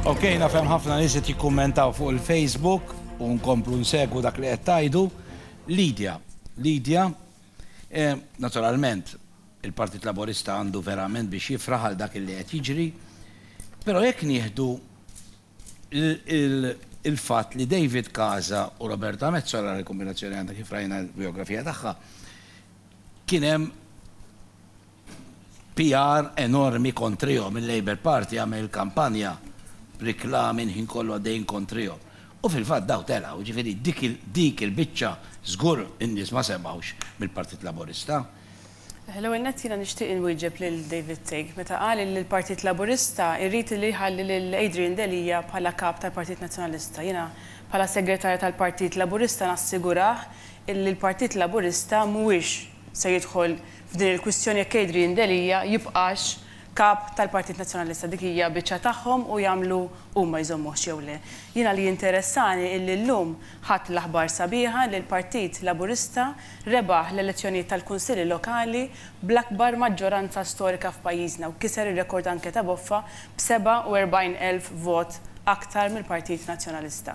Ok, nafhem ħafna nies qed jikkummentaw fuq il-Facebook u nkomplu nsegwu dak li qed tajdu. Lidja, Lidja, eh, naturalment, il-Partit Laburista għandu verament biex jifraħ għal dak li qed jiġri, però jekk nieħdu il-fatt li David Kaza u Roberta Mezzola li kombinazzjoni għandha kif rajna l-biografija tagħha, kien hemm PR enormi kontrihom, il-Labour Party għamel il-kampanja b'riklami l-ħin kollu għaddejjin kontrihom. U fil-fatt dawn telgħu, jiġifieri dik il-biċċa żgur in-nies ma semgħux mill-Partit Laburista. L-ewwel nett jiena nixtieq inwieġeb lil David Thigg meta qal illi l-Partit Laburista jrid illi jħalli lil Adrian Delia bħala Kap tal-Partit Nazzjonalista. Jiena bħala Segretarja tal-Partit Laburista nassigurah illi l-Partit Laburista mhuwiex se jidħol f'din il-kwistjoni jekk Adrian Delia jibqax Kap tal-Partit Nazzjonalista. Dik hija biċċa tagħhom u jagħmlu huma jżommuhx jew le. Jiena li jinteressani illi llum ħadt l-aħbar sabiħa li l-Partit Laburista rebaħ l-elezzjonijiet tal-Kunsilli Lokali bl-akbar maġġoranza storika f'pajjiżna u kiser ir-rekord anke ta' Boffa b' 47 elf vot aktar mill-Partit Nazzjonalista.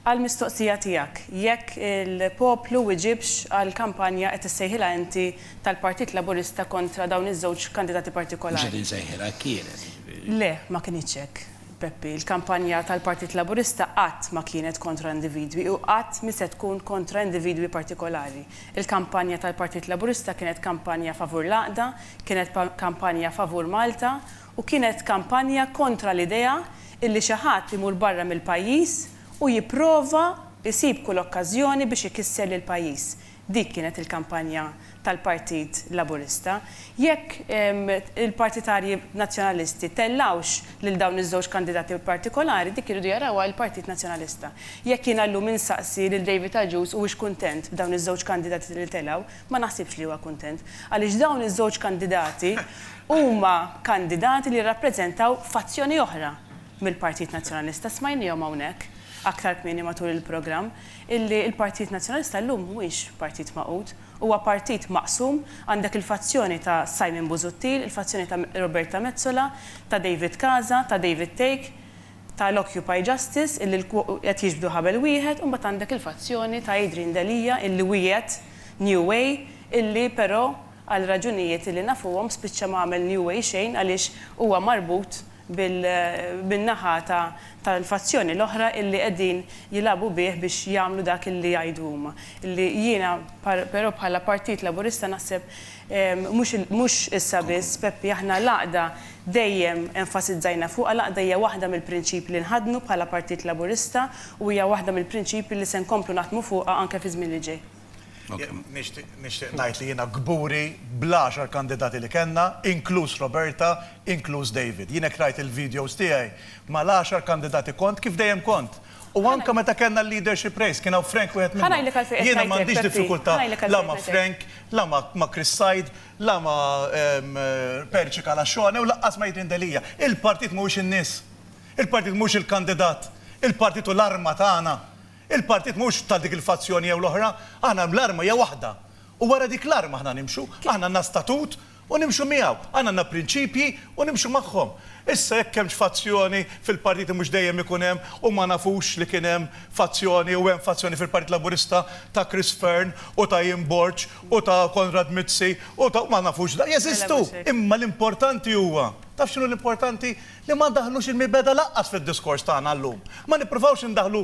Għall-mistoqsija tiegħek jekk il-poplu wiġibx għall-kampanja, qed issejħilha inti, tal-Partit Laburista kontra dawn iż-żewġ kandidati partikolari? Mhux qed insejħilha, hekk kienet, jiġifieri. Le, ma kinitx hekk, Peppi. Il-kampanja tal-Partit Laburista qatt ma kienet kontra individwi u qatt mhi se tkun kontra individwi partikolari. Il-kampanja tal-Partit Laburista kienet kampanja favur l-għaqda, kienet kampanja favur Malta u kienet kampanja kontra l-idea illi xi ħadd imur barra mill-pajjiż u jipprova jsib kull okkażjoni biex ikisser lill-pajjiż. Dik kienet il-kampanja tal-Partit Laburista. Jekk il-partitarji Nazzjonalisti tellgħux lil dawn iż-żewġ kandidati partikolari, dik iridu jarawha il-Partit Nazzjonalista. Jekk jiena llum insaqsi lil David Agius huwiex kuntent b'dawn iż-żewġ kandidati li telgħu, Ma naħsibx li huwa kuntent, għaliex dawn iż-żewġ kandidati huma kandidati li jirrappreżentaw fazzjoni oħra mill-Partit Nazzjonalista. Smajniehom hawnhekk aktar kmieni matul il-programm illi l-Partit Nazzjonalista llum mhuwiex partit magħqud. Huwa partit maqsum, għandek il-fazzjoni ta' Simon Busuttil, il-fazzjoni ta' Roberta Metsola, ta' David Casa, ta' David Thake. tal-Occupy Justice illi qed jiġbdu ħabel wieħed u mbagħad għandek il-fazzjoni ta' Adrian Delia illi wiegħed New Way illi però għal raġunijiet illi nafuhom spiċċa ma għamel New Way xejn għaliex huwa marbut bin-naħa tal-fazzjoni l-oħra illi qegħdin jilagħbu bih biex jagħmlu dak illi jgħidu huma illi jiena però bħala Partit Laburista naħseb Mhux issa biss, Peppi, aħna l-għaqda dejjem enfasizzajna fuqha, l-għaqda hija waħda mill-prinċipji li nħaddnu bħala Partit Laburista u hija waħda mill-prinċipji li se nkomplu naħdmu fuqha anke fiż-żmien li ġej. Nixtieq ngħid li jiena kburi bl-għaxar kandidati li kellna, inkluż Roberta, inkluż David. Jien hekk rajt il-videos tiegħi mal-għaxar kandidati kont kif dejjem kont. U anke meta kellna l-leadership race, kien hawn Frank wieħed minnhom. Ħa ngħidlek għalfejn qed ngħidlek, Peppi. Jiena m'għandix diffikultà la ma' Frank, la ma' Chris Said, la ma' Perċi Calacione u lanqas ma' Adrian Delia. Il-partit mhuwiex in-nies. Il-partit mhuwiex il-kandidat. Il-partit hu l-arma tagħna. Il-partit mhuwiex ta' dik il-fazzjoni jew l-oħra. Aħna l-arma hija waħda. U wara dik l-arma aħna nimxu. Aħna għandna statut U nimxu miegħu. Aħna għandna prinċipji u nimxu magħhom. Issa jekk hemmx fazzjoni fil-partiti mhux dejjem ikun hemm u ma nafux li kien hemm fazzjoni u hemm fazzjoni fil-Partit Laburista ta' Chris Fearne u ta' Ian Borg u ta' Konrad Mizzi u ta' ma nafux da' jeżistu. Imma l-importanti huwa, taf x'inhu l-importanti? Li ma ndaħħlux il-mibegħda lanqas fid-diskors tagħna llum. Ma nippruvawx indaħħlu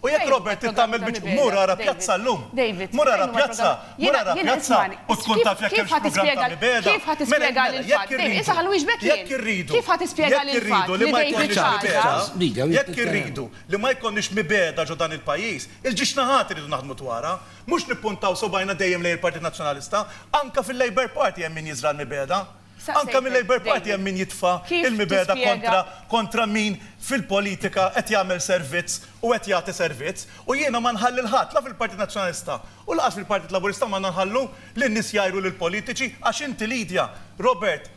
U jekk Robert trid tagħmel biċ mur ara pjazza llum. Mur ara pjazza, mur ara pjazza u tkun taf jekk hemmx programm ta' mibegħda. Mela, mela, jekk irridu, jekk irridu, jekk irridu li ma jkollniex mibegħda, jekk irridu li ma jkollniex mibegħda ġo dan il-pajjiż, il-ġiex naħat irridu naħdmu dwarha. Mhux nippuntaw subgħajna dejjem lejn il-Partit Nazzjonalista. Anke fil-Labour Party hemm min jiżra' l-mibegħda. Anke mil-Labour Party hemm min jitfa' l-mibegħda kontra kontra min fil-politika qed jagħmel servizz u qed jagħti servizz. U jiena ma nħalli 'l ħadd, la fil-Partit Nazzjonalista u lanqas fil-Partit Laburista m'għandna nħallu lin-nies jgħajru lill-politiċi għax inti Lydia, Robert,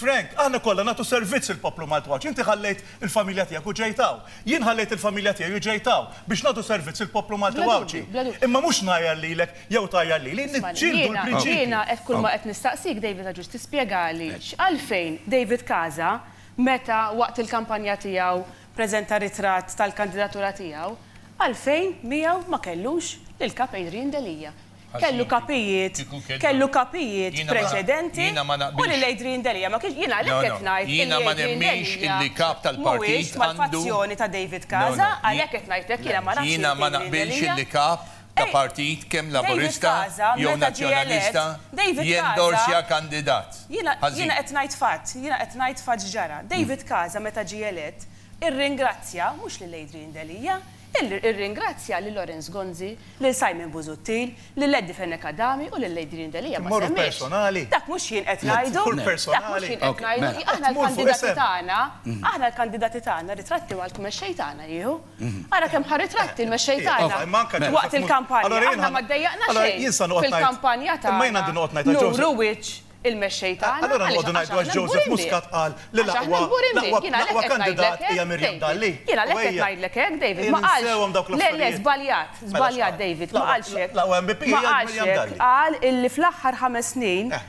Frank, aħna kollha nagħtu servizz lill-poplu Malti u għax inti ħallejt il-familja tiegħek u ġejt hawn. Jien ħallejt il-familja tiegħi u ġejt hawn biex nagħtu servizz lill-poplu Malti u Għawdxi. Imma mhux ngħajjar lilek Jew tgħajjar lili? Niġġieldu l-prinċipji. Isma' lil jiena qed kulma qed nistaqsik David Agius tispjegali x'għalfejn David Casa meta waqt il-kampanja tiegħu preżenta ritratt tal-kandidatura tiegħu għalfejn miegħu ma kellux lil Kap Adrian Delia. Kellu kapijiet kellu kapijiet preċedenti u lil Adrian Delia ma kienx jien għalhekk qed ngħid illi Adrian Delia mhuwiex mal-fazzjoni ta' David Casa għalhekk qed ngħidlek jiena ma nafx jekk Adrian Delia ta' partit kemm Laburista jew Nazzjonalista jendorsja kandidat. Ħażin. Jiena qed ngħid fatt. Jiena qed ngħid fatt x'ġara. David Casa meta ġie elett irringrazzja mhux lil Adrian Delia, irringrazzja lil Lawrence Gonzi, lil Simon Busuttil, lil Eddie Fenech Adami u lil Adrian Delia ma semmiex. Dak mhux jien qed ngħidu. Dak mhux jien qed ngħidu. Aħna l-kandidati tagħna, aħna l-kandidati tagħna ritratti mal-mexxej tagħna jieħu. Ara kemm ħa ritratti l-mexxej tagħna waqt il-kampanja. Aħna ma ddejjaqna xejn fil-kampanja tagħna nuru wiċċ il-mexxej tagħna. Allura noqogħdu ngħidu għax Joseph Muscat qal li l-aqwa l-aqwa kandidat hija Miriam Dalli. Jiena għalhekk qed ngħidlek hekk, David, ma qalx. Ninsewhom dawk l-affarijiet. Le, le, żbaljat, żbaljat, David, ma qalx hekk. L-aqwa MP hija Miriam Dalli. Ma qalx hekk, qal illi fl-aħħar ħames snin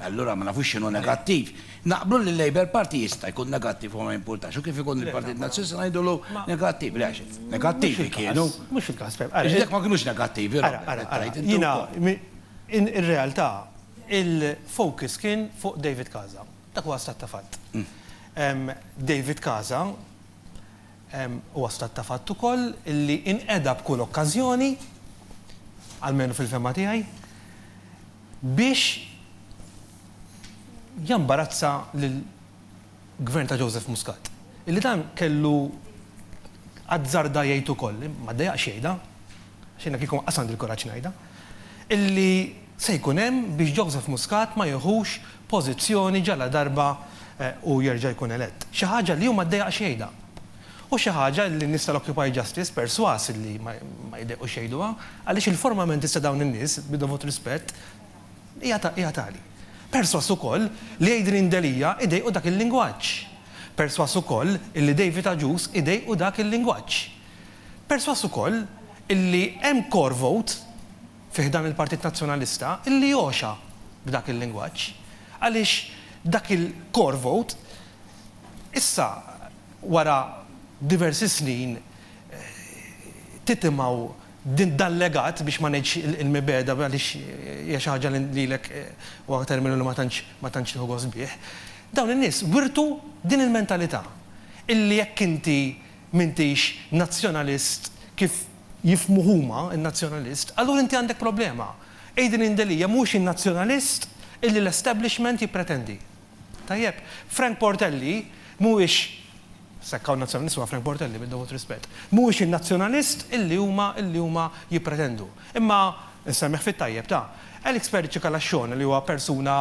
Allura ma nafux x'inhu negattiv. Naqblu li l-Labour Party jista' jkun negattiv u ma jimpurtax, u kif ikun il-Partit Nazzjonalista ngħidulu negattiv. Le għax negattivi kienu. Mhux il-każ, Pep. Ara. Għax dak ma kinux negattivi, Robert. Ara, ara, ara. Jiena, ir-realtà, il-focus kien fuq David Casa. Dak huwa stat ta' fatt. David Casa Huwa stat ta' fatt ukoll li inqeda b'kull okkażjoni, almenu fil-fehma tiegħi, biex jambarazza lill-Gvern ta' Joseph Muscat. Illi dan kellu azzarda jgħid ukoll, ma ddejaqx jgħidha, għax jiena kieku ma nqas għandi l-kuraġġ ngħidha, illi, se jkun hemm biex Joseph Muscat ma jieħux pożizzjoni ġaladarba hu jerġa' jkun elett. Xi ħaġa li hu ma ddejaqx jgħidha. U xi ħaġa li n-nies tal-Occupy Justice persważ li ma jdejqux jgħiduha għaliex il-formamentist ta' dawn in-nies, bid-dovut rispett, hija tali. Persważ ukoll li Adrian Delia jdejqu dak il-lingwaġġ. Persważ ukoll illi David Agius jdejqu dak il-lingwaġġ. Persważ ukoll illi hemm core vote, fi ħdan il-Partit Nazzjonalista illi għoxha b'dak il-lingwaġġ għaliex dak il-core vote issa wara diversi snin titimgħu dal-legat biex ma ngħidx il-mibegħda għaliex hija xi ħaġa li lilek huwa terminu li ma tantx ma tantx tieħu gost bih. Dawn in-nies wirtu din il-mentalità illi jekk inti m'intix Nazzjonalist kif jifhmu huma, in-Nazzjonalist, allura inti għandek problema. Adrian Delia mhuwiex in-Nazzjonalist illi l-establishment jippretendi. Tajjeb? Frank Portelli mhuwiex, sa jekk hawn Nazzjonalist huwa Frank Portelli, bid-dovut rispett, mhuwiex in-Nazzjonalist illi huma illi huma jippretendu. Imma, insemmih fit-tajjeb ta', Alex Perici Calascione li huwa persuna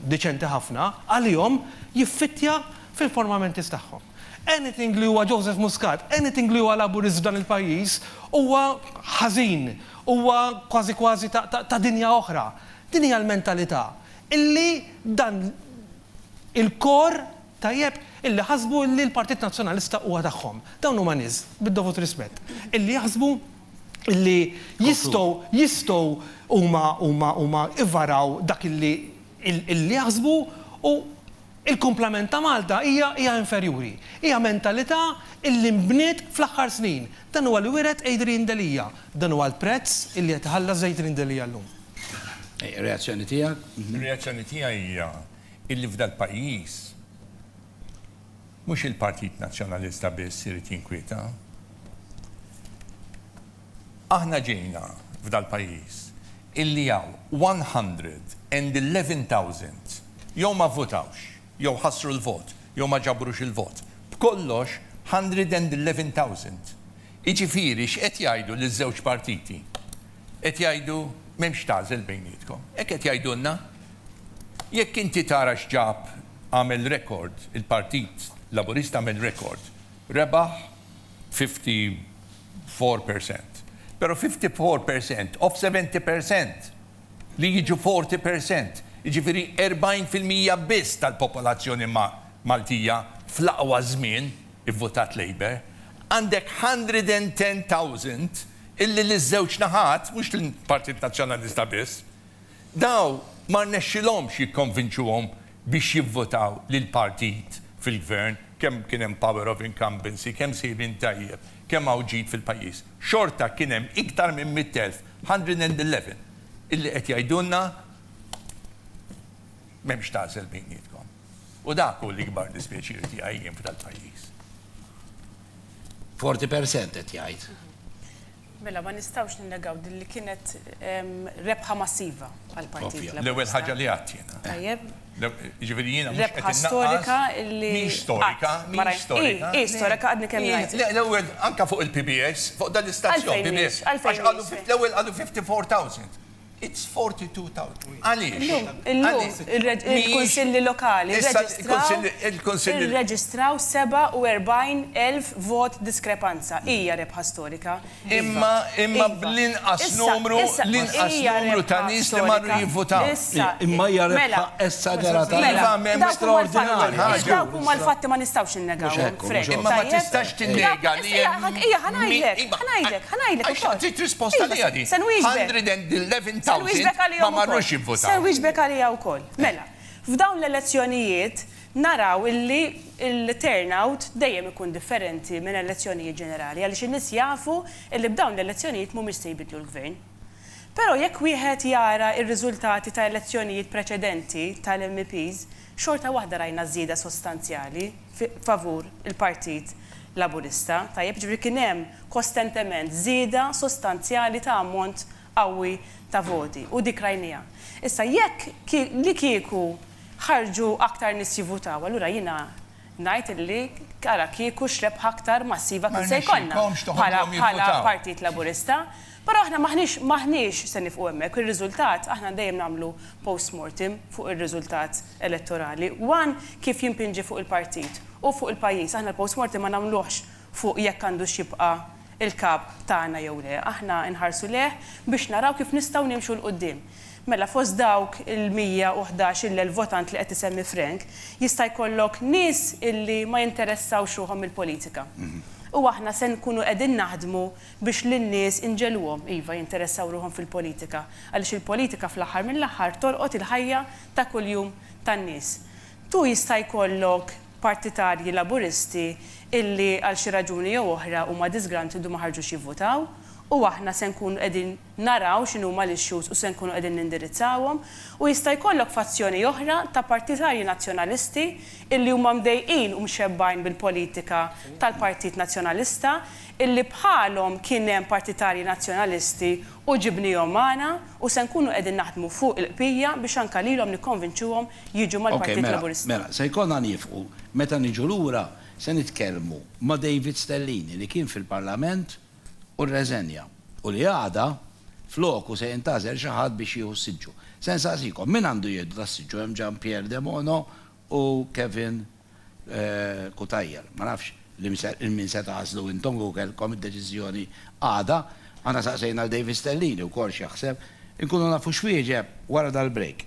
diċenti ħafna, għalihom jiffittja fil-formamentis tagħhom. Anything li huwa Joseph Muscat, anything li huwa Laburist f'dan il-pajjiż huwa ħażin, huwa kważi kważi ta' dinja oħra. Din hija l-mentalità illi dan il-kor tajjeb illi ħasbu illi l-Partit Nazzjonalista huwa tagħhom. Dawn huma nies, bid-dovut rispett, illi jaħsbu illi jistgħu jistgħu huma huma huma ivvaraw dak illi illi jaħsbu u Il-kumplament ta' Malta hija hija inferjuri. Hija mentalità illi nbniet fl-aħħar snin. Dan huwa li wiret Adrian Delia. Dan huwa l-prezz illi qed iħallas Adrian Delia llum. Reazzjoni tiegħek? Ir-reazzjoni tiegħi hija illi f'dal-pajjiż mhux il-Partit Nazzjonalista biss irid jinkwieta. Aħna ġejna f'dal-pajjiż illi hawn 111,000 jew ma vvutawx, jew ħassru l-vot, jew ma ġabrux il-vot, b'kollox 111,000. Jiġifieri x'qed jgħidu liż-żewġ partiti? Qed jgħidu m'hemmx tagħżel bejnietkom. Hekk qed jgħidulna. Jekk inti tara x'ġab għamel rekord il-Partit Laburista għamel rekord, rebaħ 50 four percent. Pero fifty four percent of seventy percent li jiġu forty percent, jiġifieri erbgħin fil-mija biss tal-popolazzjoni Maltija fl-aqwa żmien ivvutat Labour, għandek hundred and ten thousand illi liż-żewġ naħat, mhux lill-Partit Nazzjonalista biss, dawn ma rnexxilhomx jikkonvinċuhom biex jivvotaw lill-partit fil-gvern, kemm kien hemm power of incumbency, kemm sejrin tajjeb, kemm hawn ġid fil-pajjiż, xorta kien hemm iktar minn mitt elf, 111, illi qed jgħidulna m'hemmx tagħżel bejnietkom. U dak hu l-ikbar dispjaċir tiegħi jien f'dal-pajjiż. Forty percent qed jgħid. Mela ma nistgħux ninnegaw din li kienet rebħa massiva għall-Partit Laburista. Ovvja, l-ewwel ħaġa li għedt jiena. Tajjeb. Jiġifieri jiena mhux qed innaqqas. Rebħa storika li. Mhix storika, mhix storika. Hi, hi storika għadni kemm ngħid. Le, l-ewwel anke fuq il-PBS, fuq dan l-istazzjon PBS. Għalfejn mhix? Għax qalu, l-ewwel qalu 54,000. It's 42,000. Għaliex? Illum, il-Kunsilli Lokali rreġistraw 47,000 vot diskrepanza. Hija rebħa storika. Imma, imma bl-inqas numru, l-inqas numru ta' nies li marru jivvutaw. Imma hija rebħa esaġerata. Dawk huma l-fatti, ma nistgħux. Mhux hekk hu, mhux hekk. Imma ma tistax tinnega li hemm. Iva, iva, ħa ngħidlek, ħa ngħidlek, ħa ngħidlek ukoll. Għax trid risposta għaliha din. Se nwieġbek. Ma marrux jivvutaw. Se nwieġbek għaliha wkoll. Mela, f'dawn l-elezzjonijiet naraw illi l-turnout dejjem ikun differenti minn elezzjonijiet ġenerali għaliex in-nies jafu illi b'dawn l-elezzjonijiet mhumiex se jbiddlu l-Gvern. Però jekk wieħed jara r-riżultati ta' elezzjonijiet preċedenti tal-MEPs, Xorta waħda rajna żieda sostanzjali favur il-Partit Laburista. Tajjeb, jiġifieri kien hemm kostentement żieda sostanzjali ta' ammont qawwi ta' voti u dik rajniha. Issa jekk li kieku ħarġu aktar nies jivvutaw allura jiena ngħid li ara kieku x'rebħa aktar massiva kien se jkollna bħala bħala Partit Laburista. Però aħna m'aħniex m'aħniex se nifqu hemmhekk. Ir-riżultat aħna dejjem nagħmlu post mortem fuq ir-riżultat elettorali. One kif jimpinġi fuq il-partit u fuq il-pajjiż. Aħna l-post mortem ma nagħmluhx fuq jekk għandux jibqa' il-Kap tagħna jew le. Aħna nħarsu lejh biex naraw kif nistgħu nimxu 'l quddiem. Mela fost dawk il-mija u ħdax-il-elf votant li qed isemmi Frank, jista' jkollok nies illi ma jinteressawx ruħhom mill-politika. U aħna se nkunu qegħdin naħdmu biex lin-nies inġegħluhom, iva, jinteressaw ruħhom fil-politika. Għaliex il-politika fl-aħħar mill-aħħar tolqot il-ħajja ta' kuljum tan-nies. Tu jista' jkollok. partitarji Laburisti illi għal xi raġuni jew oħra huma disgruntled u ma ħarġux jivvutaw u aħna se nkunu qegħdin naraw x'inhuma l-issues u se nkunu qegħdin nindirizzawhom u jista' jkollok fazzjoni oħra ta' partitarji Nazzjonalisti illi huma mdejqin u mxebbgħin bil-politika tal-Partit Nazzjonalista illi bħalhom kien hemm partitarji Nazzjonalisti U ġibniehom magħna u se nkunu qegħdin naħdmu fuq il-qpija biex anke lilhom nikkonvinċuhom jiġu mal-Partit Laburista. Mela, se jkollna niefqu. Meta niġu lura se nitkellmu ma' David Stellini li kien fil-Parlament u rreżenja u li għada floku se jintgħażel xi ħadd biex jieħu s-siġġu. Se nsaqsikom, min għandu jieħdu das-siġġu? Hemm Jean Pierre Debono u Kevin Cutajar. Ma nafx lil min se tagħżlu intom kieku kellkom id-deċiżjoni għada. Aħna saqsejna lil David Stellini wkoll x'jaħseb. Inkunu nafu x'wieġeb wara dal-break.